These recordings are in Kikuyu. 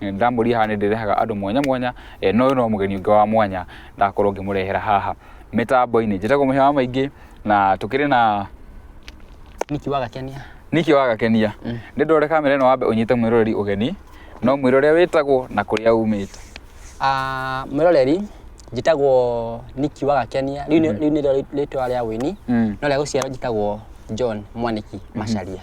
nĩ ndamũria haha nĩ ndĩrehaga andũ mwanya mwanya eh, no ũyũ no mũgeni ũngĩ wa mwanya ndakorwo ngĩmũrehera haha mĩtambo-inĩ njĩtagwo mũhĩa wa maingĩ na tũkĩrĩ na niki wagakenia niki wagakenia mm. nĩ ndore kamera ĩno wambe ũnyite mwĩroreri ũgeni no mwĩra ũrĩa wĩtagwo na kũrĩa umĩte ah, mwĩroreri njĩtagwo niki wagakenia rĩu nĩ mm-hmm. rĩtwa rĩa wĩni mm. no rĩa gũciarwo njĩtagwo john mwaniki mm-hmm. macaria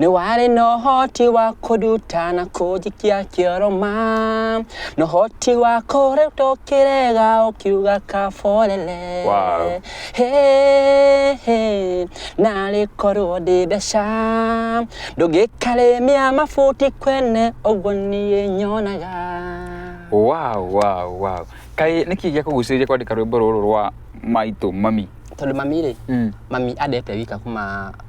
nĩ warĩ na ũhoti wa kũnduta na kũnjikia kĩoroma na ũhoti wa kũrĩtwo kĩrega ũkiuga kaborere Wow. Hey, hey, narĩ korwo ndĩ mbeca ndũngĩkarĩmia mabuti kwene ũguo niĩ nyonaga wow wow wow kaĩ nĩ kĩĩ gĩa kũgucĩrĩria kwandĩka rwĩmbo rũrũ rwa maitũ mami tondå mami rä Mm. mami andete wika kuma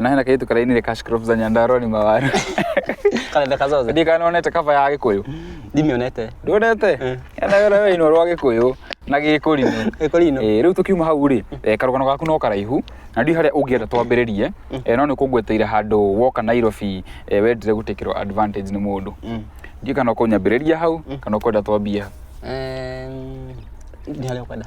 nahe na kaitu karainire cash crop za nyandarua ni mawaru Karenda kazoze. ndi kana onete kaba ya gikuyu Ndimionete. ndonete Eh. yana wera we ino rwa gikuyu na gikurino Eko lino. Eh, rĩu tũkiuma hau rĩ eh, karũgano gaku no karaihu na ndiũ harĩa ũngĩenda twambĩrĩrie eh, no nĩ kũngweteire handũ woka nairobi eh, wendire gũtĩkĩrwo advantage nĩ mũndũ Mm. ndiũ kana ũkũnyambĩrĩria hau kana ũkwenda twambie hau Em, Ni hali ya kwenda.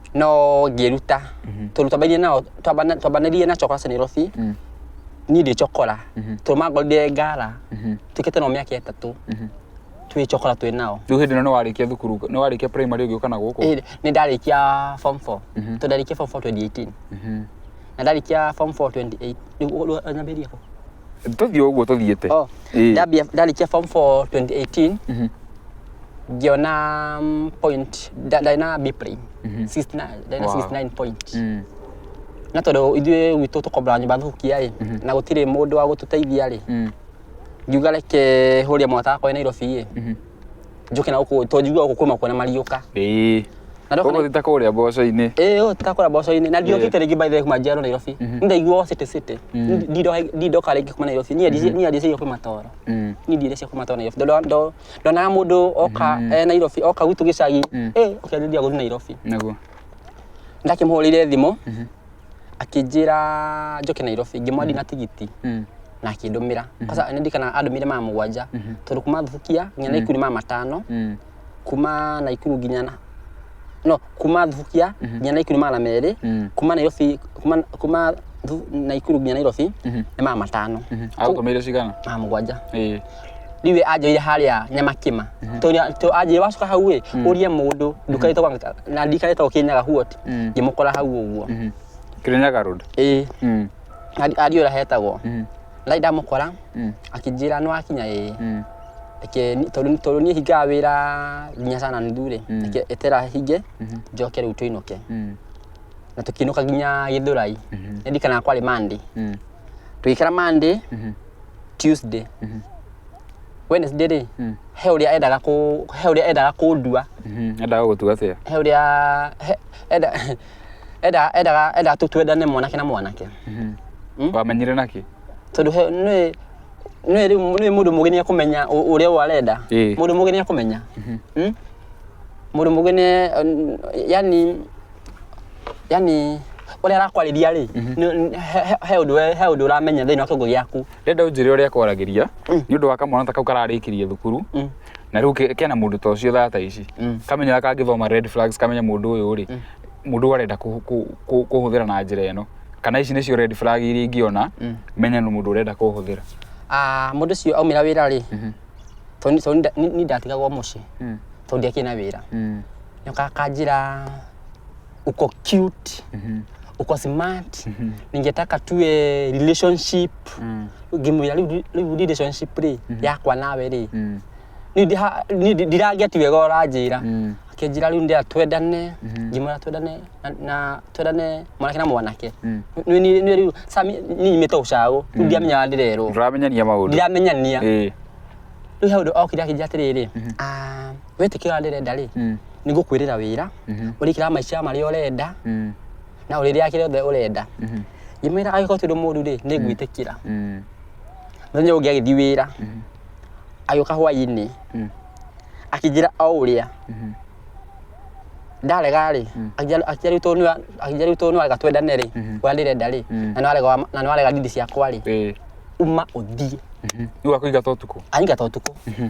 no ngĩruta Mhm. tondũ twambairie nao twambana- twambanirie na cokora senirothi Mm. niĩ ndĩ cokora Mhm. tondũ mangorire ngara Mhm. twĩkĩte nao mĩaka ĩtatũ Mhm. twĩ cokora twĩ nao rĩu hĩndĩ ĩno nĩ warĩkia thukuru nĩ warĩkia primary ũgĩũka na gũkũ Ĩĩ, nĩ ndarĩkia form 4 Mhm. tondũ ndarĩkia form 4 2018 Mhm. na ndarĩkia form 4 28 rĩu ũguo nyambĩrĩrie kũ tũthiĩ ũguo tũthiĩte oh Ĩĩ. ndambia ndarĩkia form 4 2018 Mhm. ngiona mm, point nda- ndarĩ na b plane Mhm. 69 ndarĩ na Wow. 69 point Mm. na tondũ ithuĩ gwitũ tũkombora nyũmba thũkia rĩ na gũtirĩ mũndũ wa gũtũteithia rĩ Mm. ngiuga reke hũria mwataka kwa nairobi rĩ Mhm. njuke na guku to njigua guku kuma kuona mariuka ĩĩ na ndoka ũgũthita kũrĩa mboco-inĩ ĩĩ yo takora boco-inĩ na ndiokite rĩngĩ by the way kuma njiarwo Nairobi ndaigua city city ndindoka rĩngĩ kuma Nairobi niĩ ndicĩ- niĩ ndicĩirio kuma toro Mm. niĩ ndirĩ cia kuma toro Nairobi Ndo- ndo- ndonaga mũndũ oka eh, Nairobi oka gwitũ gĩcagi ĩĩ ũkĩanjĩrĩria gũthiĩ Nairobi naguo ndakĩmũhũrĩire thimũ akĩnjĩra njoke nairobi ngĩmwandi na tigiti Mm. na akĩndũmĩra kwanza nĩ ndikana andũmĩire maya mũgwanja Mhm. tondũ kuma thubukia nginya naikuru maya matano Mm. kuma naikuru nginya na no kuma thubukia nginya naikuru maya na merĩ Mm. kuma nairobi kuma, kuma Thu- naikuru nginya nairobi Mhm. nĩ maya matano Mhm. Agũtũmĩire cigana? maya mũgwanja Ĩĩ. rĩu we anjoire harĩa nyamakĩma tondũ anjĩire wacoka hau ĩ ũrie mũndũ ndukarĩte na ndikarĩte ũkĩnyaga huot Mm. ngĩmũkora hau ũguo Mhm. Kirinyaga Road. ĩĩ Mm. ari- ariũ ũrĩa hetagwo Mm. lai ndamũkora Mm. akĩnjĩra nĩ wakinya ĩĩ Mm. reke ni- tondũ tondũ niĩ hingaga wĩra nginya sana nuthu rĩ Mm. reke etera hinge Mhm. njoke rĩu tũinũke Mm. na tũkĩinũka nginya gĩthũrai Mhm. nĩndirikanaga kwarĩ mande Mm. tũgĩikara mande Mhm. tuesday Mhm. Wednesday rĩ Mm. he ũrĩa endaga kũ he ũrĩa endaga kũndua Mhm, endaga gũtua atĩa he ũrĩa he- enda endaga endaga endaga tu twendane mwanake na mwanake Mhm. Mm. wamenyire naki tondũ he nĩ nĩ rĩu nĩ mũndũ mũgĩ nĩ ekũmenya ũ- ũrĩa ũyũ arenda Ĩĩ. mũndũ mũgĩ nĩ ekũmenya Mm? mũndũ mũgĩ nĩ yani yani ũrĩa arakwarĩria rĩ nĩ- nĩ- he- he- he ũndũ we- he ũndũ ũramenya thĩinĩ wa kĩongo gĩaku ndenda unjire uria kwaragiria ni undu wa kamwana ta kau kararikirie thukuru na riu ke- kena mundu ta ucio thata ici kamenya kangithoma red flags kamenya mundu uyu ri mundu arenda ku- ku- ku- kuhuthira na njira ino kana ici nicio red flag iria ingiona menya ni mundu urenda kuhuthira Ah, mũndũ ũcio aumĩra wĩra rĩ tondũ tondũ nda- ni- ni ndatigagwo mũciĩ tondũ ndiakĩna wĩra nĩkanjĩra uko cute Mhm. uko smart Mhm. ningetaka tuwe relationship Mm. ngimwira riu riu relationship ri yakwa nawe ri Mm. Ni ndi- ha- ni ndi- ndiragia ti wega ũranjĩra Mm. akĩnjĩra rĩu ndĩra twendane ngĩmwĩra twendane na- na twendane mwanake na mwanake Mm. Nĩ- nĩ- nĩ rĩu sami nĩnyimĩte ũcagũ rĩu ndiramenyaga ndĩrerwo Ndũramenyania maũndũ. ndiramenyania Ĩĩ. rĩu he ũndũ okire akĩnjĩra atĩrĩrĩ "Ah, wĩtĩkĩra ũrĩa ndĩrenda rĩ Mm. nĩ ngũkwĩrĩra wĩra Mhm. ũrĩkĩra maica marĩa ũrenda Mm. na ũrĩrĩa kĩrĩa othe ũrenda Mhm. ngĩmwĩra agĩkorwo ti ũndũ mũru rĩ nĩ ngwĩtĩkĩra Mm. mũthenya ũngĩ agĩthiĩ wĩra Mhm. agĩũka hwaĩ-inĩ Mm. akĩnjĩra o ũrĩa Mhm. ndarega rĩ Mm. akĩnjĩra rĩu tondũ nĩwa- akĩnjĩra rĩu tondũ nĩwarega twendane rĩ Mhm. ũrĩa ndĩrenda rĩ Mm. na nĩwarega wa- na nĩwarega ndindi ciakwa rĩ Ĩĩ. uma ũthiĩ Mhm. Rĩu akũingata ũtukũ anyingata ũtukũ Mhm.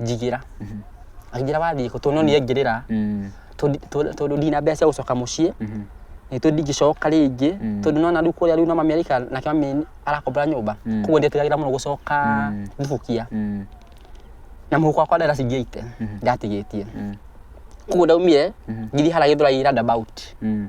njigĩra akĩnjĩra wathiĩ kũ tondũ no niĩ aingĩrĩra Mm. tondũ- tondũ tondũ ndina mbeca cia gũcoka mũciĩ Mhm. nĩ tondũ ndingĩcoka rĩngĩ Mm. tondũ nona rĩu kũrĩa rĩu na mami araikara nake mami arakombora nyũmba Mm. koguo ndĩtigagĩra mũno gũcoka Mm. thibukia Mm. na mũhuko wakwa ndera cingĩite ndatigĩtie Mm. koguo ndaumire Mhm. ngiri haragä ndå raira ndabout Mm.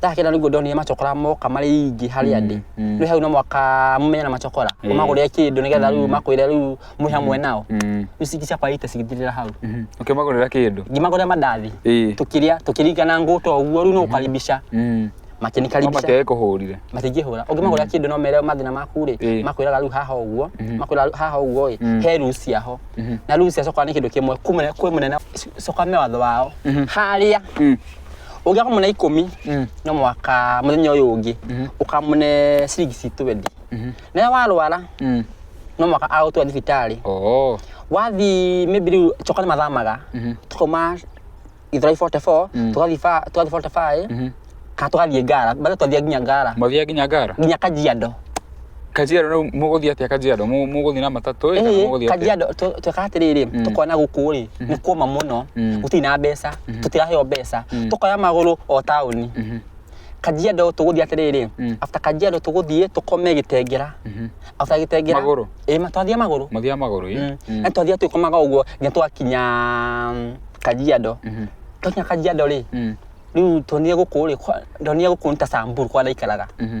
tahake na niguo ndonire macokora moka marĩ aingĩ harĩa ndĩ Mm, rĩu hau no mwaka mũmenya na macokora Eh. ũmagũrĩre kĩndũ nĩgetha rĩu makwĩre rĩu mwĩ hamwe nao mm, rĩu cingi ciakwa ite cigĩthirĩra hau mhm. ũkĩmagũrĩra kĩndũ ngĩmagũrĩra mandathi Ĩĩ. tũkĩrĩa tũkĩringana ngũtwa ũguo rĩu no ũkaribisha Mm. No makĩnikaribisha matiage kũhũrire matingĩhũra ũngĩmagũrĩra kĩndũ no mere mathĩna maku rĩ Ĩĩ. makwĩraga rĩu haha ũguo makwĩra rĩu haha ũguo ĩ he ruu ciaho na ruu cia coka nĩ kĩndũ kĩmwe kumene- kwĩ mũnene coka me watho wao harĩa Mm. ũngĩakorwo mwĩna ikũmi Mm. no mwaka mũthenya ũyũ ũngĩ Mhm. ũkamũne ciringi ci 20 Mhm. nayo warwara Mm. no mwaka agũtwa thibitarĩ Oh. wathi maybe rĩu coka nĩ mathamaga Mhm. tũkauma gĩthũrai 44 Mm. tũgathiĩ ba- tũgathiĩ 45 Mhm. kana tũgathiĩ ngara bado twathiĩ nginya ngara Mwathiaga nginya ngara? nginya kajiado Kajiado rĩu mũgũthiĩ atĩa Kajiado? Mũ- Mũgũthiĩ na matatũ ĩ, kana Ĩĩ, mũgũthiĩ atĩa? kajiado tũ- tweka atĩrĩrĩ tũkona gũkũ rĩ nĩ kuoma mũno Mm. gũtirĩ na mbeca tũtiraheo mbeca tũkoya magũrũ o taũni Mhm, kajiado tũgũthiĩ atĩrĩrĩ Mm. after kajiado tũgũthiĩ tũkome gĩtengera mhm. after gĩtengera Magũrũ? ĩĩ ma- twathiĩ magũrũ Mũthiaga magũrũ ĩ? Mm. Mm. na twathiĩ tũkomaga ũguo nginya twakinya mm, kajiado Mhm, twakinya kajiado rĩ mm, rĩu tuonire gũkũ rĩ kwa- ndonire gũkũ nĩ ta samburu kwa ndaikaraga mhm.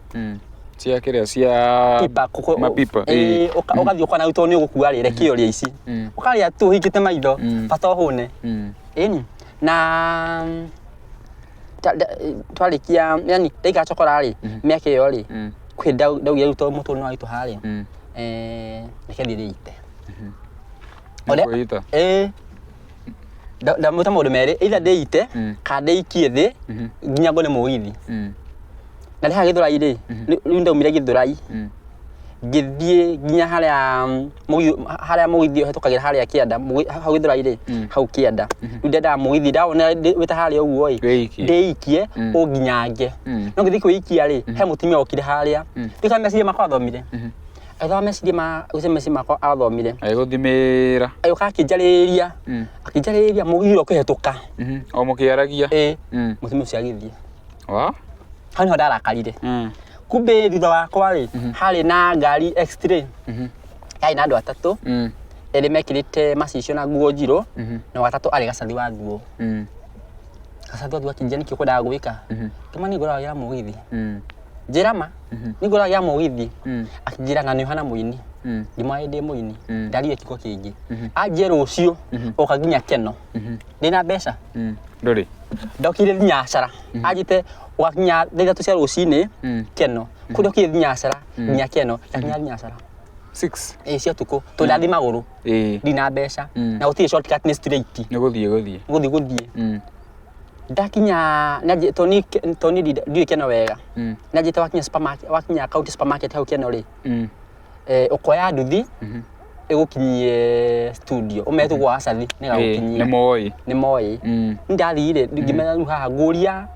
Mm. cia kĩrĩa cia Pipa, kũkũ- mapipa ĩĩ. Ĩĩ, ũka- ũgathiĩ ũkona rĩu tondũ nĩ ũgũkua rĩ reke ũrĩa ici Mm. ũkarĩa tu ũhingĩte maitho Mm. bata ũhũne Mm. ĩni na mm, ta- nda- twarĩkia yani ndaika cokora rĩ mĩaka ĩyo rĩ Mm. kwĩ ndau- ndaugire rĩu tondũ mũtũrĩ nĩ waitũ harĩ Mm. reke thiĩ rĩite Nĩ Ũrĩa- kwĩita. ĩĩ Nda- ndamwĩta maũndũ merĩ either ndĩite Mm. kana ndĩikie thĩ Mhm. nginya ngone mũgithi Mm. na rĩha gĩthũrai rĩ rĩ- rĩu ndaumire gĩthũrai Mm. ngĩthiĩ nginya harĩa mm, mũgithi harĩa mũgithi ũhetũkagĩra harĩa kĩanda mũgi- ha- hau gĩthũrai rĩ Mm. hau kĩanda rĩu ndendaga mũgithi ndawona ndĩ- wĩta harĩa ũguo ĩ Wĩikie. ndĩikie Mm. ũnginyange Mm. no ngĩthiĩ kwĩikia rĩ he mũtumia okire harĩa rĩu kana meciria makwa athomire agĩthoma meciria ma gũcenjia meciria makwa athomire agĩgũthimĩra agĩũka akĩnjarĩrĩria Mm. akĩnjarĩrĩria mũgithi ũrĩa ũkĩhĩtũka Mhm. o mũkĩaragia ĩ Mm. mũtumia ũcio agĩthiĩ wa hau niho ndarakarire Mm. kumbe thutha wakwa rĩ harĩ na ngari x-ray Mhm. yarĩ na andũ atatũ Mm. erĩ mekĩrĩte macicio na nguo njirũ Mhm. na watatũ arĩ gacathi wa nguo Mm. gacathi wa nguo akĩnjia nĩkĩ ũkwendaga gwĩka Mhm. kĩmani ngoragĩra mũgithi Mm. njĩra ma Mhm. ningũra ya mũgithi Mm. akĩnjĩra ng'ano ihana mũini Mm. ndimwa ĩndĩ mũini Mm. ndariga kiugo kĩngĩ Mhm. anjie rũciũ Mhm. ũka nginya keno Mhm. ndĩna mbeca Mm. Ndũrĩ. ndokire thinyacara anjĩte ũgakinya thaa ithatũ cia rũcinĩ Mm. keno kũ ndokire thinyacara nginya keno ndakinya thinyacara Six. ĩ cia ũtukũ tondũ ndathi magũrũ Ĩĩ. ndina mbeca Mm. na gũtirĩ shortcut nĩ straight Nĩ gũthiĩ gũthiĩ. gũthiĩ gũthiĩ Mm. ndakinya nyanjĩ- to ni to ni ndi- ndiũĩ kĩno wega Mm. nyanjĩte wakinya supermarket wakinya county supermarket hau kĩno rĩ Mm. eh, ũkoya nduthi Mhm. ĩgũkinyie studio ũmetu gwa acathi Ĩĩ, nĩ nĩgagukinyia moĩ nĩ moĩ Mm. ndathire ngimenya rĩu haha ngũria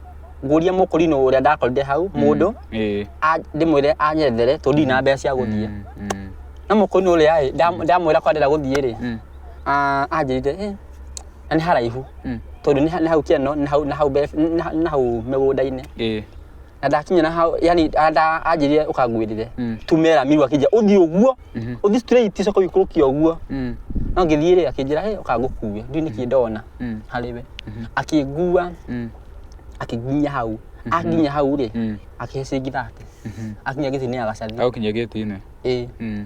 ngũria mũkũrinũ ũrĩa ndakorire hau mũndũ Ĩĩ. a- ndĩmwĩre anyethere tondũ ndirĩ na mbeca cia gũthiĩ Mm. Mm. na mũkũrinũ ũrĩa ĩ, ndam- ndamwĩra kwa ndĩra gũthiĩ rĩ Mm. ah, anjĩrire "Eh, na nĩ haraihu Mm. tondũ nĩ ha- nĩ hau kĩano nĩ hau- nĩ hau mbere- nĩ ha- nĩ hau mĩgũnda-inĩ Eh. na ndakinya na hau yani anda anjĩrire ũkangwĩrire Mm. tumera miru akĩnjĩra ũthiĩ ũguo Mhm. ũthiĩ straight coka ũikũrũkia ũguo Mm. no ngĩthiĩ rĩ akĩnjĩra "Hey, ũkangũkue ndiũ nĩkĩ ndona Mm. harĩ we akĩngua Mm. akĩnginya hau akinya hau rĩ Mm. akĩhe ciringi thate akinya gĩtini agacaria Au kinya gĩti-inĩ. ĩĩ Mm.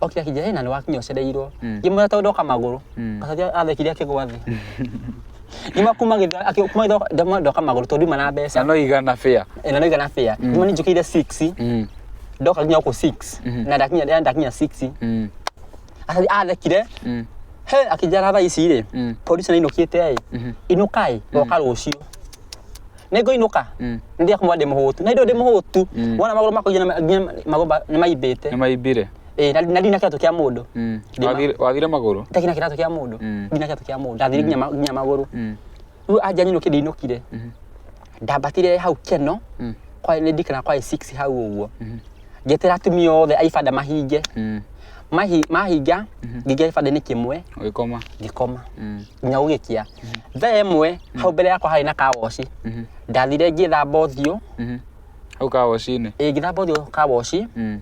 o kĩrĩa kĩnjĩra hena nĩ wakinya ũcereirwo Mm. ngĩmwĩra tondũ ndoka magũrũ Mm. gacaria athekire akĩgwa thĩ ngĩma kuma gĩtha- akĩ- kuma gĩtha- ndamwa ndoka magũrũ tondũ nduma na na mbeca no igana bĩa na noiga na bĩa ngĩma nĩ njũkĩire 6 Mm, ndoka nginya gũkũ 6 Mhm. na ndakinya ndĩa- ndakinya 6 mm, Aca- athekire mm, he akĩnjara thaa ici rĩ Mm. polisi nainũkĩte ĩ Mhm. inũkai oka rũciũ nĩngũ inũka Mm. nthia kumwa ndĩ mũhũtu na indo ndĩ mũhũtu Mm. wona magũrũ makwa nginya nginya magũrũ ma- nĩ maimbĩte nĩ maimbire Eh, na na ndina kĩratũ kĩa mũndũ Mm. Ndĩ ma- Wathire- wathire magũrũ ndakina kĩratũ kĩa mũndũ Mm. ndina kĩratũ kĩa mũndũ ndathire nginya ma- nginya magũrũ Mm. rĩu anja nyinũkĩ ndĩinũkire Mhm. ndambatire hau keno Mm. kwa nĩ ndikana kwa 6 hau ũguo Mhm. ngetera atumia othe a ibanda mahinge Mm. Mahi- mahinga ngĩingĩra gĩbanda-inĩ kĩmwe ũgĩkoma ngĩkoma Mm. nginya gũgĩkĩa thaa ĩmwe hau mbere yakwa harĩ na kawoci ndathire ngĩthamba ũthiũ Mhm. hau kawocinĩ ĩ ngĩthamba ũthiũ kawoci Mm.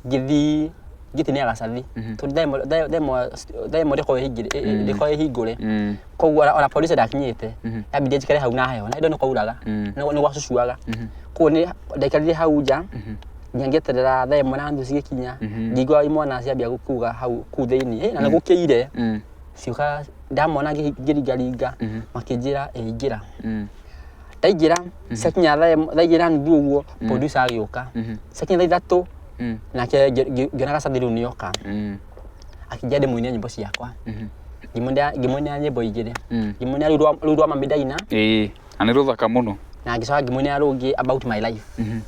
ngĩthi ngĩtinia gacathi Mhm. tondũ thaa ĩmwe- thaa- thaa ĩmwe- thaa ĩmwe ndĩkorwo ĩhingĩre- ĩ- ĩ- ndĩkorwo ĩhingũre Mm. koguo ona- ona polisi ndakinyĩte Mhm. yambindire njikare hau na heho na indo nĩ kwauraga Mm. nĩ gwacucuaga Mhm. koguo nĩ ndaikarire hau nja Mhm. nginya ngĩeterera thaa ĩmwe na nuthu cigĩkinya Mhm. ngĩigua imwana ciambia kuga hau kuu thĩinĩ na nĩ gũkĩire Mm. cioka ndamona ngĩ- ngĩringaringa Mhm. makĩnjĩra ĩingĩra Mm. ndaingĩra ciakinya thaa ĩmwe- thaa igĩrĩ na nuthu ũguo producer agĩũka Mhm. ciakinya thaa ithatũ Mm. nake ngĩ- ngĩ- ngĩona gacathi rĩu nĩoka Mm. akĩnjia ndĩmũinia nyĩmbo ciakwa Mhm. Ngĩmũinĩra- ngĩmũinĩra nyĩmbo igĩrĩ Mm. ngĩmũinĩra rĩu rwa- rũu rwa mami ndaina Ĩĩ, na nĩ rũthaka mũno na ngĩcoka ngĩmũinĩra rũngĩ about my life Mhm.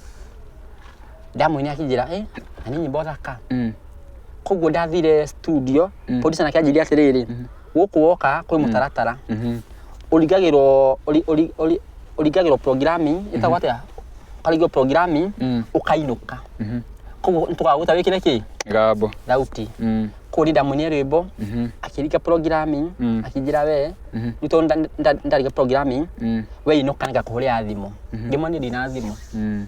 ndamwine akinjira eh nani nyimbo thaka Mm. koguo ndathire studio Mm. producer nake anjĩria atĩrĩrĩ gũkũ woka kwĩ mũtaratara Mhm. ũringagĩrwo ũri- ũri- ũri- ũringagĩrwo programming ĩtagwo atĩa ũkaringwo programming Mm. ũkainũka Mhm. koguo nĩtũkagũta wĩkĩre kĩ Gabo. thauti Mm. koguo nĩ ndamwine rwĩmbo Mhm. akĩringa programming Mm. akĩnjĩra we Mhm. rĩu tondũ nda- nda- ndaringa programming Mm. we inũka nĩngakũhũrĩra thimũ ndĩmwone ndina thimũ Mm.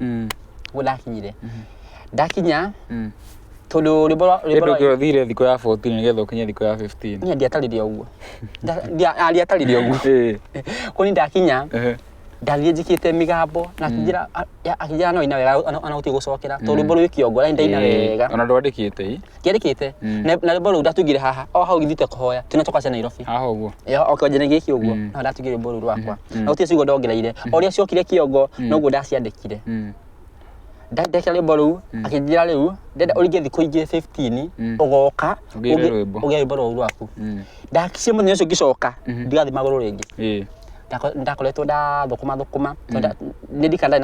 Mm. guo ndakinyire Mhm. ndakinya Mm. tondu rwimbo rwa- rwimbo Kĩndũ rwa- kĩo thire thikũ ya 14 nĩgetha ũkinye thikũ ya 15 Niĩ ndiatarire ũguo Nda- ndia- ah, ndiatarire ũguo Ĩĩ. kå nä ndakinya Ehe. ndathiä njä kä te mä gambo nakingä akingä ra no ina wega anaå tigå cokera tondå rwä mbo rwä kä ongo raindaina Ĩĩ. wega ona ndwandĩkĩte i kĩarĩkĩte Mm. na na rwĩmbo rũu ndatugire haha o hau githite kũhoya tunacoka cia nairobi haha ũguo Ĩyo, o kĩonjene gĩkĩ ũguo Mm. no ndatugire rwĩmbo rũu rwakwa Mhm. na gũtirĩ ciugo ndongereire o ũrĩa ciokire kĩongo Mm. noguo ndaciandĩkire Mm. Nda- ndekĩra rwĩmbo rũu Mm. akĩnjĩra rĩu ndenda ũringe thikũ ingĩ 15 Mm. ũgoka Ũgĩre ũgĩ- rwĩmbo. ũgĩre rwĩmbo rũu rwaku Mm. ndakicie mũthenya ũcio ngĩcoka Mhm. ndigathiĩ magũrũ rĩngĩ Ĩĩ. Ndako- ndakoretwo ndathũkũma thũkũma nĩndikanda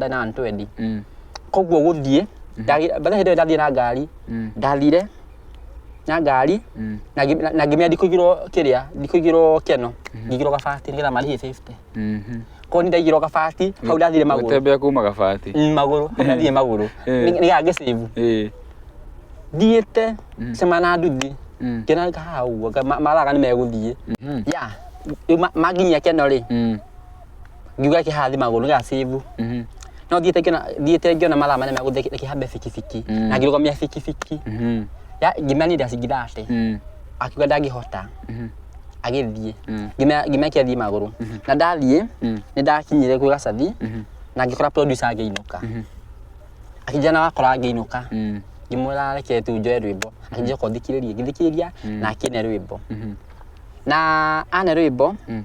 na 120 Mm. koguo gũthiĩ ndagĩ- by the way, hĩndĩ ĩyo ndathiĩ na ngari Mm. ndathire na ngari Mm. na ngi- na- na ngimenya ndikũigirwo kĩrĩa ndikũigirwo kĩano ngigirwo gabati nĩgetha marĩhie safety Mhm. koguo nĩ ndaigirwo gabati hau ndathire magũrũ Gũtembea kuma gabati. Mm, magũrũ hau ndathire magũrũ Eh. Nĩ- nĩgetha ngĩsave Eh. thiĩte cema na nduthi Mm. ngĩona haha ũguo nga- ma- maraga nĩ megũthiĩ Mhm. ya rĩu ma- manginyia kĩano rĩ Mm. ngiuga kĩhathi magũrũ gĩa cibu Mhm. no thiĩte ngĩona thiĩte ngĩona mathaa manene megũthiĩ kĩhambe bikibiki Mm. na ngĩrũgamia bikibiki Mhm. Ya- ngĩmenya nĩ ndacingitha atĩ Mm. akiuga ndangĩhota Mhm. agĩthiĩ Mm. Ngĩmenya- ngĩmenya kĩathiĩ magũrũ na ndathiĩ Mm. nĩ ndakinyire kwĩ gacathi Mhm. na ngĩkora producer angĩinũka Mhm. akĩnjana wakora angĩinũka Mm. ngĩmwĩra reke tu njoe rwĩmbo akĩnjoka ũthikĩrĩrie ngĩthikĩrĩria na akĩne rwĩmbo Mhm. na ane rwĩmbo Mm.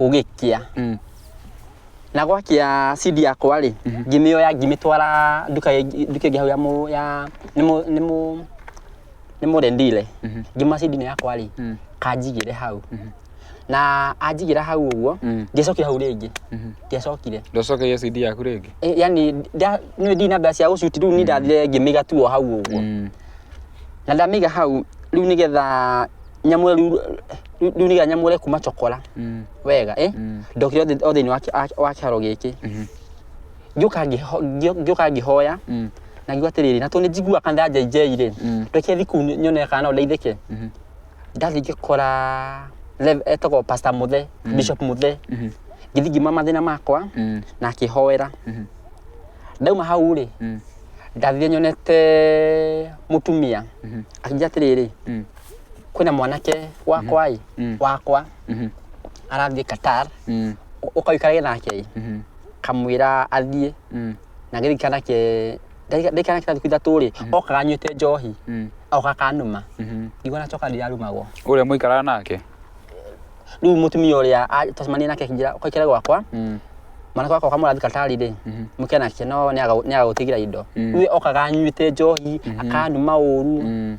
ũgĩkia Mm. na gwakia cidi yakwa rĩ ngĩmĩoya ngĩmĩtwara nduka ĩngĩ- nduka ĩngĩ hau ya mũ- ya nĩ mũ- nĩ mũ- nĩ mũrendire Mhm. ngĩma cidi nĩ yakwa rĩ Mm. kanjigĩre hau Mhm. na anjigĩra hau ũguo Mm. ngĩcokire hau rĩngĩ Mhm. ngĩacokire Ndocokeire CD yaku rĩngĩ. Eh, yani nda- nĩ ndi na mbeca cia gũcuti rĩu nĩ ndathire ngĩmĩga tuo hau ũguo Mm. na ndamĩiga hau rĩu nĩgetha nyamũre riu riu nĩgetha nyamũre kuma cokora Mm. wega eh? Mm. ndokire o thĩ- o thĩinĩ wa kĩ- wa- wa kĩharo gĩkĩ Mhm. ngĩũka ngĩho- ngĩo- ngĩũka ngĩhoya Mm. na ngiuga atĩrĩrĩ na tondũ nĩ njiguaga kana ndanjainjeirĩ Mm. ndokire thiku nyone kana no ndeithĩke Mhm. ndathiĩ ngĩkora rev- etagwo pasta mũthe bishop mũthe Mhm. ngĩthiĩ ngiuma mathĩna makwa Mm. na akĩhoera Mhm. ndauma hau rĩ Mm. ndathire nyonete mũtumia Mhm. akĩnjia atĩrĩrĩ Mm. kwina mwanake wakwa i Mm. wakwa Mhm. arathiĩ Qatar Mm. ũ- ũkaikarage nake Mhm. kamwĩra athiĩ Mm. na gĩthĩ kanake ndaikana kĩrathiĩ ithatũ rĩ okaga anyuĩte njohi Mm. oka kanuma Mhm. ndigua nacoka ndirarumagwo Ũrĩa mũikaraga nake. rĩu mũtumia ũrĩa a- twacemania nake akĩnjĩra ũkaikare gwakwa Mm. mwanake wakwa kamũrathiĩ Qatar rĩ Mhm. mũke nake no nĩagagũtigira indo Mm. rĩu okaga anyuĩte njohi akanuma ũru Mm.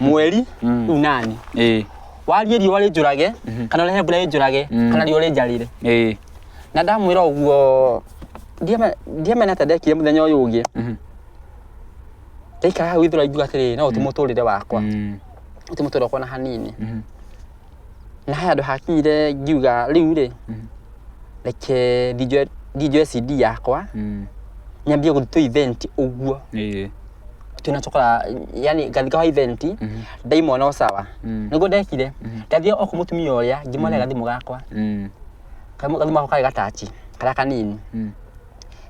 mweri Mm. unani ĩĩ warie riũa rĩnjũrage kana ũrehe mbura ĩnjũrage Mm. kana riũa rĩnjarire ĩĩ na ndamwĩra ũguo ndiame- ndiamena ta ndekire mũthenya ũyũ ũngĩ Mhm. ndaikara hau ithũra ngiuga atĩrĩ no ũti mũtũrĩre wakwa Mm. ũti mũtũrĩre wakwa na hanini Mhm. na haya nduhakire ngiuga riu ri Mhm. reke ndinjoe ndinjoe cd yakwa Mm. nyambie guthi tu event uguo Ĩĩ. twina cokora yani ngathi kwa event Mhm. ndaimona sawa Mm. niguo ndekire Mhm. ndathie o ku mutumia uria ngimwona gathimu gakwa Mm. Kamu- gathimu gakwa kari gatachi karia kanini Mm.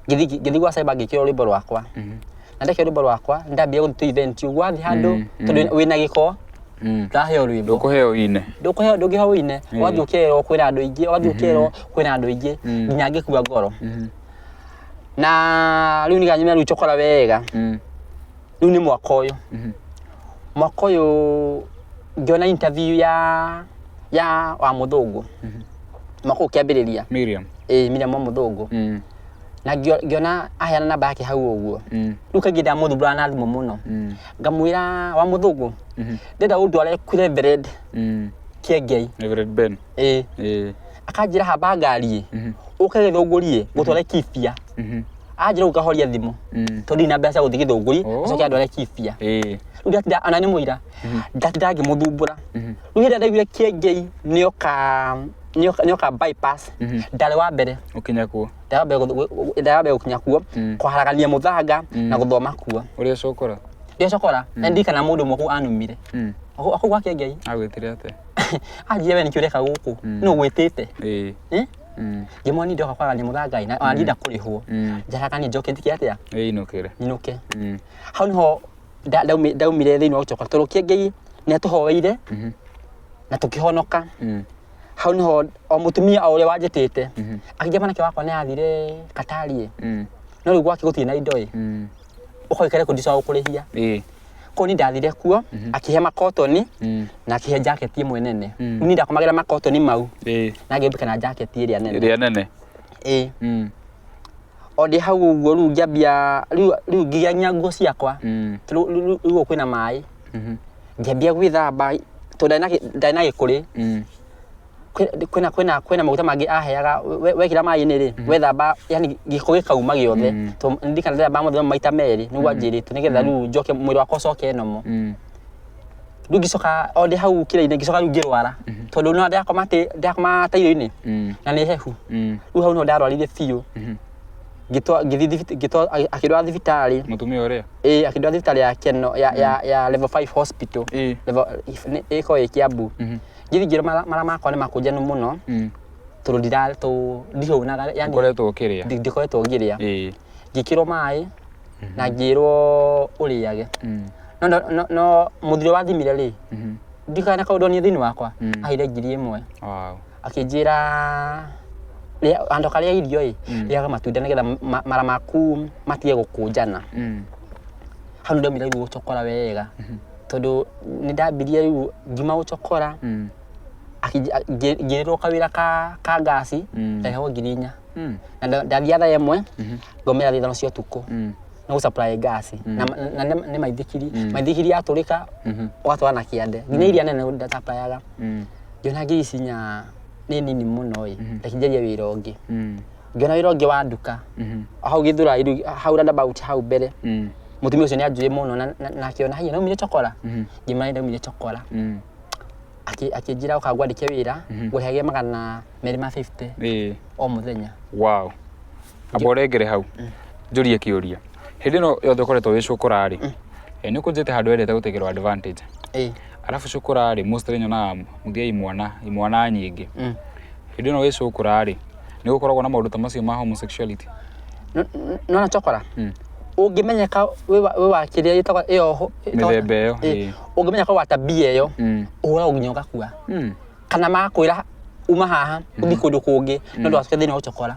ngĩthi ngĩthi gwa cyber ngĩkĩrwo rwĩmbo rwakwa Mhm. na ndekĩrwo rwĩmbo rwakwa ndambia gũthiĩ event ũguo wathiĩ handũ Mm, mm. tondũ wĩna gĩko Mm. ndaheo rwĩmbo ndũkũheo ine ndũkũheo ndũngĩheo wine Mm. wathiĩ ũkerwo kwĩna andũ aingĩ wathiĩ ũkerwo kwĩna andũ aingĩ Mm. nginya ngĩkua ngoro Mhm. na rĩu nĩganyumĩra rĩu cokora wega Mm. rĩu nĩ mwaka ũyũ mwaka ũyũ ngĩona interview ya ya wa mũthũngũ mwaka ũyũ kĩambĩrĩria Miriam. ĩĩ Miriam wa mũthũngũ Mm. na ngĩo- ngĩona aheana namba yake hau ũguo Mm. rĩu kaingĩ ndamũthumbũra na thimũ mũno Mm. ngamwĩra wa mũthũngũ ndenda ũndware kure vered Mm. kĩengei Reverend Ben. ĩ ĩ akanjĩra hamba ngari mhm, ũke gĩthũngũri gũtware kibia mhm, anjĩra ũkahoria thimũ mm, tondũ ndirĩ na mbeca cia gũthiĩ gĩthũngũri Oh. acoke andware kibia ĩ rĩu ndatira ana nĩ mũira ndatira ngĩmũthumbũra mhm, rĩu hĩndĩ ĩrĩa ndaiguire kĩengei nĩoka nĩoka nĩoka bypass Mhm. ndarĩ wa mbere ũkinya kuo ndarĩ wa mbere gũth- gũ- gũ- ndarĩ wa mbere gũkinya kuo Mm. kũharagania mũthanga na gũthoma kuo ũrĩa cokora ndĩacokora na ndirikana mũndũ ũmwe kũu anumire mm, akauga kĩengei agwĩtire atĩa aria we nĩkĩo ũreka gũkũ Mm. nũ gwĩtĩte Eh. Eh? Mm. ngĩmwa nindĩ oka kwaga nyamũ tha ngai na ona ndinda kũrĩhwo Mm. njaraga nĩ njoke ndike atĩa Eh, inũkĩre. nyinũke Mm. hau nĩho nda- ndaumi- ndaumire thĩinĩ wa gũcoka tondũ kĩngĩi nĩ atũhoeire Mhm. na tũkĩhonoka Mm. hau nĩho o mũtumia o ũrĩa wanjĩtĩte Mhm. akĩngia mwanake wakwa nĩ athire katarie Mm. no rĩu gwake gũtirĩ na indo ĩ Mm. ũkoikare kũ ndicoa gũkũrĩhia ĩĩ kũu ni ndathire kuo akĩhe makotoni Mm. na akĩhe jaketi ĩmwe nene Mm. ni ndakomagĩra makotoni mau ĩĩ na ngĩmbika na jaketi ĩrĩa nene ĩrĩa nene ĩĩ Mm. o ndĩ hau ũguo rĩu ngĩambia rĩu rĩu ngĩgĩa nginya nguo ciakwa Mm. rĩu rĩu- rĩu kwĩna maĩ Mhm. ngĩambia gwĩthamba tondũ ndarĩ na gĩ- ndarĩ na gĩkũrĩ Mm. kwĩ- kwĩna kwĩna kwĩna maguta mangĩ aheaga we- wekĩra maĩ-inĩ rĩ wethamba yani gĩko gĩkauma gĩothe Mm. to ndikana ndĩthamba mũthenya maita merĩ nĩguo anjĩrĩte nĩgetha rĩu njoke mwĩrĩ wakwa ũcoke nomo Mm. rĩu ngĩcoka o ndĩ hau kĩrĩa-inĩ ngĩcoka rĩu ngĩrwara tondũ no ndakoma atĩ ndakoma tairo-inĩ Mm. na nĩ hehu Mm. rĩu hau no ndarwarire biũ Mhm. ngĩtwa ngĩthiĩ thibi- ngĩtwa akĩndwara thibitarĩ Mũtumia ũrĩa. ĩĩ akĩndwara thibitarĩ ya keno ya ya ya level 5 hospital Ĩĩ. level ĩkoragwo ĩ Kiambu Mhm. ngirigiro mara mara makwa nĩ makũnja nĩ mũno Mm. tondũ ndira tũ ndihonaga yani Ngoretwo ũkĩrĩa. ndi- ndikoretwo ngĩrĩa Ĩĩ. ngĩkĩrwo maĩ na ngĩrwo ũrĩage Mm. no no- no- no mũthuri wathimire rĩ Mhm. ndikana kaũndũ niĩ thĩinĩ wakwa Mm. aheire ngiri ĩmwe Wow. akĩnjĩra rĩa- handũ karĩa irio ĩ Mm. rĩaga matunda nĩgetha ma- mara maku matige gũkũnjana Mm. hau nĩ ndaumire rĩu gũcokora wega tondũ nĩ ndambirie rĩu ngima gũcokora Mm. akĩnji- a- ngĩ- ngĩrĩrwo kawĩra ka ka ngasi Mm. ndaheagwo ngiri inya Mm. na nda- ndathiaga thaa ĩmwe ngomera thaa ithano cia ũtukũ Mm. na gũcaplai ngasi na na nĩ- nĩ maithikiri maithikiri yatũrĩka Mhm. ũgatwara na kĩande nginya iria nene ndacaplayaga Mm. ngĩona ngiri ici nya nĩ nini mũno ĩ rekinjaria wĩra ũngĩ Mm. ngĩona wĩra ũngĩ wa nduka Mhm. hau gĩthura iru- hau roundabout hau mbere Mm. mũtumia ũcio nĩ anjũĩ mũno na- na- na akĩona haiya naumire cokora Mhm. ngĩmara nĩ ndaumire cokora Mm. Akĩ- akĩnjĩra ũka ngwandĩke wĩra Mhm. ngũrĩhage magana merĩ ma 50 Ĩĩ. o mũthenya wow amba ũrengere hau njũrie kĩũria hĩndĩ ĩno yothe ũkoretwo wĩcũkũra-rĩ nĩ ũkũnjĩte handũ wendete gũtegerwo advantage Ĩĩ. arabu cukura rĩ mostly nyonaga muthia imwana imwana nyingĩ Mm. hĩndĩ ĩno wĩ cukura rĩ nĩ gũkoragwo na maũndũ ta macio ma homosexuality N- n- nona cokora Mm. ũngĩmenyeka wĩ wa- wĩ wa kĩrĩa ĩtagwo ĩyo ho- ĩtagwo- Mĩthemba ĩyo, Ĩ, ĩ. ũngĩmenyeka wĩ wa tabia ĩyo Mm. ũhũragwo nginya ũgakua Mm. kana makwĩra uma haha ũthiĩ kũndũ kũngĩ nĩ ũndũ wa thĩna wa gũcokora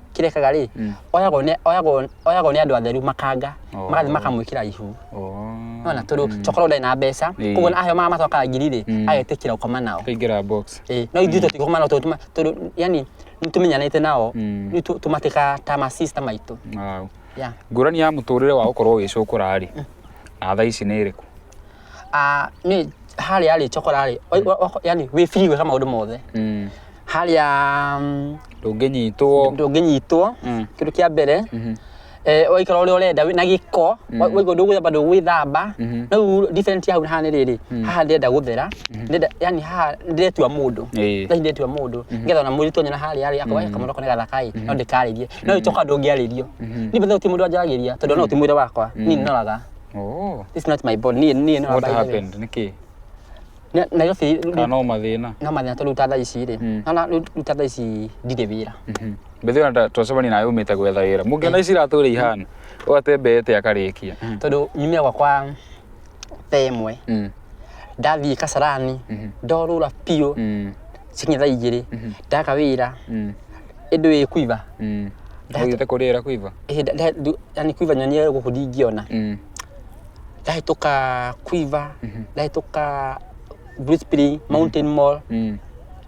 kĩrekaga rĩ Mm. oyagwo nĩ oyagwo oyagwo nĩ andũ atheru makanga Oh. magathi makamwĩkĩra ihu Oh. nona tondũ tokorwo ndarĩ na mbeca Ĩĩ. koguo aheo mara macokaga ngiri rĩ Mm. agetĩkĩra gũkoma nao Kaingĩra box. Ĩĩ, no ithuĩ tũtigũkoma nao tondũ tũma- tondũ yani nĩtũmenyanĩte nao Mm. rĩu tũ- tũmatĩkaga ta masista maitũ Wow. Yeah. Ngũrani ya mũtũrĩre wa gũkorwo wĩ cũkũra rĩ, na thaa ici nĩ ĩrĩkũ? Ah, nĩ harĩa rĩ cokora rĩ oi- wa- wa- yani wĩ free gwĩka maũndũ mothe Mm. harĩa mm, ndũngĩnyitwo ndũngĩnyitwo Mm. kĩndũ kĩa mbere Mhm. eh, waikara ũrĩa ũrenda wĩ na gĩko wa- Mhm. waigua ndũgwĩthamba ndũgwĩthamba Mhm. no rĩu different ya hau na haha nĩ rĩrĩ Mm. haha ndĩrenda gũthera ndĩrenda yani haha ndĩretua mũndũ Ĩĩ. thaa ndĩretua mũndũ ngetha ona mũritũ onyona harĩa rĩ akawa kamũndũ kone gathakai no ndĩkarĩrie no ĩcoka ndũngĩarĩrio Mhm. nĩ bethau ti mũndũ anjaragĩria tondũ no ti mwĩra wakwa ni ndoraga Oh. This is not my ball. Niĩ niĩ nĩ What by the way. happened? Nĩkĩ? Nĩ- Nairobi Kana no mathĩna. no mathina tũruta thaa ici rĩ Mm. na ruta thaa ici ndirĩ wĩra Mhm. Mbĩthĩ ona twacemani nawe umĩte gwetha wĩra. Mũngĩona ici iratũ ũrĩa ihana. Ũgatembete akarĩkia. tondũ nyumia gwakwa thaa ĩmwe Mm. ndathiĩ kasarani Mhm. ndorũra biũ Mm. cikinya thaa igĩrĩ ndaka wĩra Mm. ĩndĩ wĩ kuiva Mm. Nda- Ũthiĩte kũrĩra kũiva? Ĩhĩ, nda- nda- ndu- yani kuiva nyonie gũkũ ndingĩona Mm. ndahĩtũka kuiva Mhm. ndahĩtũka Blue Spring, mountain mall Mm.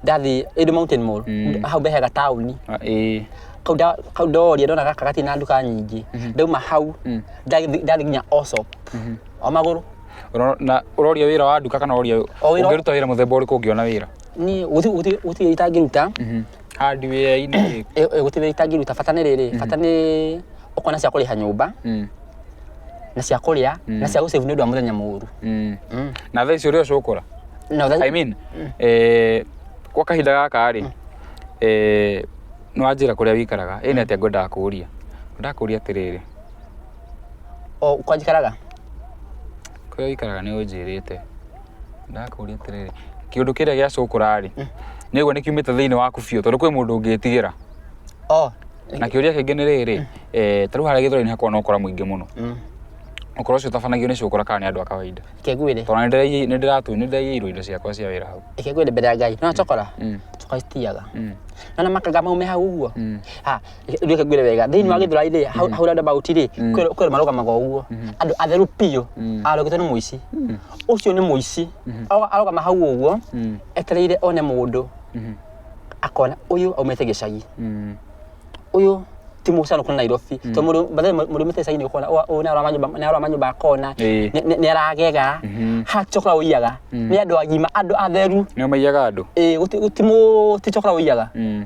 ndathi ĩndĩ mountain mall Mm. hau mbehe gataũni Ah, ĩĩ. kau nda- kau ndoria ndona gaka gatirĩ na nduka nyingĩ ndauma hau Mm. ndathi ndathi nginya Allsop o magũrũ Ũro- na ũroria wĩra wa nduka kana ũroria O wĩra- ũngĩruta wĩra mũthemba ũrĩkũ ũngĩona wĩra niĩ gũti- gũti- gũtirĩ itangĩruta Mhm. handi wĩra-inĩ rĩ Ĩ- ĩgũteithia itangĩruta bata nĩ rĩrĩ bata nĩ ũkorwo na cia kũrĩha nyũmba Mm, na cia kũrĩa na cia gũcĩvu nĩ ũndũ wa mũthenya mũru mm. Mm. na thaa icio ũrĩa ũcũkũra Na ũthe- I mean, eh, gwa kahinda gaka rĩ eh, nĩ wanjĩra kũrĩa wĩikaraga ĩnĩ atĩa ngwendaga kũũria ngwendaga kũũria atĩrĩrĩ o kwanjikaraga kũrĩa wĩikaraga nĩ ũnjĩrĩte ndakũria atĩrĩrĩ kĩũndũ kĩrĩa gĩa cũkũra rĩ nĩguo nĩ kiumĩte thĩinĩ waku biũ tondũ kwĩ mũndũ ũngĩtigĩra oh na kĩũria kĩngĩ nĩ rĩrĩ eh, tarĩu harĩa gĩthũra-inĩ hakoragwo na ũkora mũingĩ mũno mm. ũkora ũcio ũtabanagio nĩ cũkũra kana nĩ andũ a kawaida kegwire tondũ nĩ ndĩraiye- nĩ ndĩratu nĩ ndĩraiyĩirwo indo ciakwa cia wĩra hau kegwire mbere ya ngai no cokora Mm, cokora citiaga mm, na na makaga maume hau ũguo mm. ha reke ngwire wega thĩinĩ wa gĩthũrai rĩ hau hau round about rĩ Mm. kwĩ kwĩ marũgamaga ũguo Mhm. andũ atheru biũ Mm. arogete nĩ mũici Mm. ũcio nĩ mũici Mhm. Aroga- arogama hau ũguo Mm. etereire one mũndũ Mhm. akona ũyũ aumĩte gĩcagi Mm. ũyũ ti mũcano kũna nairobi tondũ mũndũ bathe mũndũ mĩte gĩcagi nĩ ũkona "Ũwa- ũyũ nĩ aroma nyũmba- nĩ aroma nyũmba akona Ĩĩ. nĩ- nĩ- nĩ aragega Mhm. ha cokora ũiyaga Mm. nĩ andũ agima andũ atheru nĩo maiyaga andũ ĩĩ gũti- gũti mũ ti cokora ũiyaga Mm.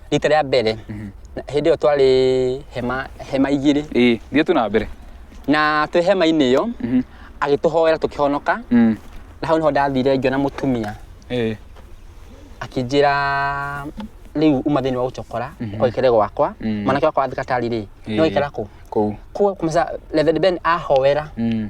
rita rĩa mbere na- hĩndĩ ĩyo twarĩ hema hema igĩrĩ ĩĩ thiĩ tu na mbere na twĩ hema-inĩ ĩyo Mhm. agĩtũhoera tũkĩhonoka Mm. na hau nĩho ndathire ngĩona mũtumia Ĩĩ. akĩnjĩra rĩu uma thĩinĩ wa gũcokora ũkaikare gwakwa Mhm. mwanake wakwa wa thikatari rĩ Ĩĩ. nĩwaikara kũ kũu kũu kumasa Reverend Ben ahoera Mm.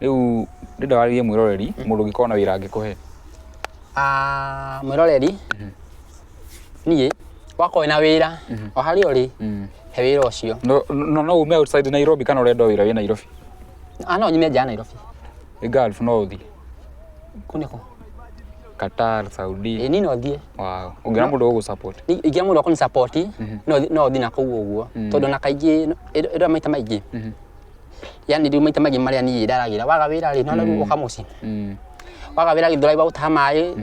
Rĩu ndĩrenda warĩrie mwĩroreri mũndũ ũngĩkorwo na wĩra angĩkũhe. Ah, mwĩroreri niĩ wakorwo wĩna wĩra o harĩa ũrĩ he wĩra ũcio No no no ume outside Nairobi kana ũrenda wĩra wĩ Nairobi. Ah, no nyume nja ya Nairobi Ĩ Gulf no ũthiĩ. kũu nĩkũ Qatar, Saudi. ĩ niĩ no thiĩ Wow. Ũngĩona mũndũ ũgũ support. Ni- ingĩra mũndũ akũni support no thi- no thiĩ na kũu ũguo tondũ na kaingĩ ĩrĩa maita maingĩ yani rĩu maita maingĩ marĩa niĩ ndaragĩra waga wĩra rĩ nona rĩu ũka mũciĩ Mm. waga wĩra gĩthũrai waũtaha maĩ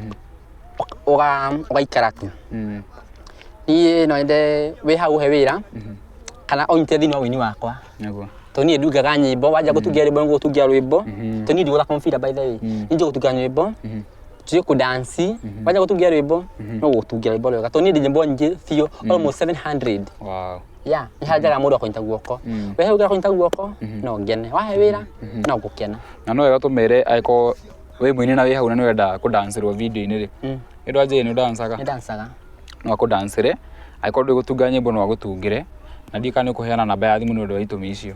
ũga- ũgaikara tu Mm. niĩ no nyende wĩ hau he wĩra kana ũnyite thĩinĩ wa ũini wakwa Nĩguo. tondũ niĩ ndungaga nyĩmbo wanja gũtungia rwĩmbo nĩgũtungia rwĩmbo Mhm. tondũ niĩ ndigũthaka mũbira by the way Mm. niĩ njũgũtungia nyĩmbo Mhm. tujä kå dansi wanja gå tungia rwä mbo no gå tungia rwä mbo rwega tondå niä ndä nyä mbo nyingä biå almost 700 Wow. ya ihanjaga mũndũ akũnyita guoko Mm. we hau gakũnyita guoko no ngene wahe wĩra no ngũkena na no wega tũmere angĩkorwo wĩ mũini na wĩ hau na nĩ wenda kũdancĩrwo video-inĩ rĩ Mm. nĩ ndwa njĩrĩ nĩ ũdancaga nĩ dancaga no akũdancĩre angĩkorwo ndũĩ gũtunga nyĩmbo no agũtungĩre na ndiĩ kana nĩ ũkũheana namba ya thimũ nĩ ũndũ wa itũmi icio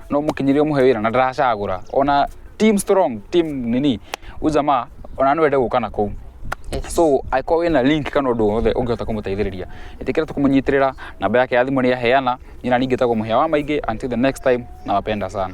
no mukinyirie muhe wira na ndaracagura ona team strong team nini ujama ona no ende guka na kuu Yes. so angĩkorwo wĩna link kana ũndũ wothe ũngĩhota kũmũteithĩrĩria ĩtĩkĩra tũkũmũnyitĩrĩra namba yake ya thimũ nĩ yaheana nyina ningĩ tagwo mũhĩa wa maingĩ until the next time nawapenda sana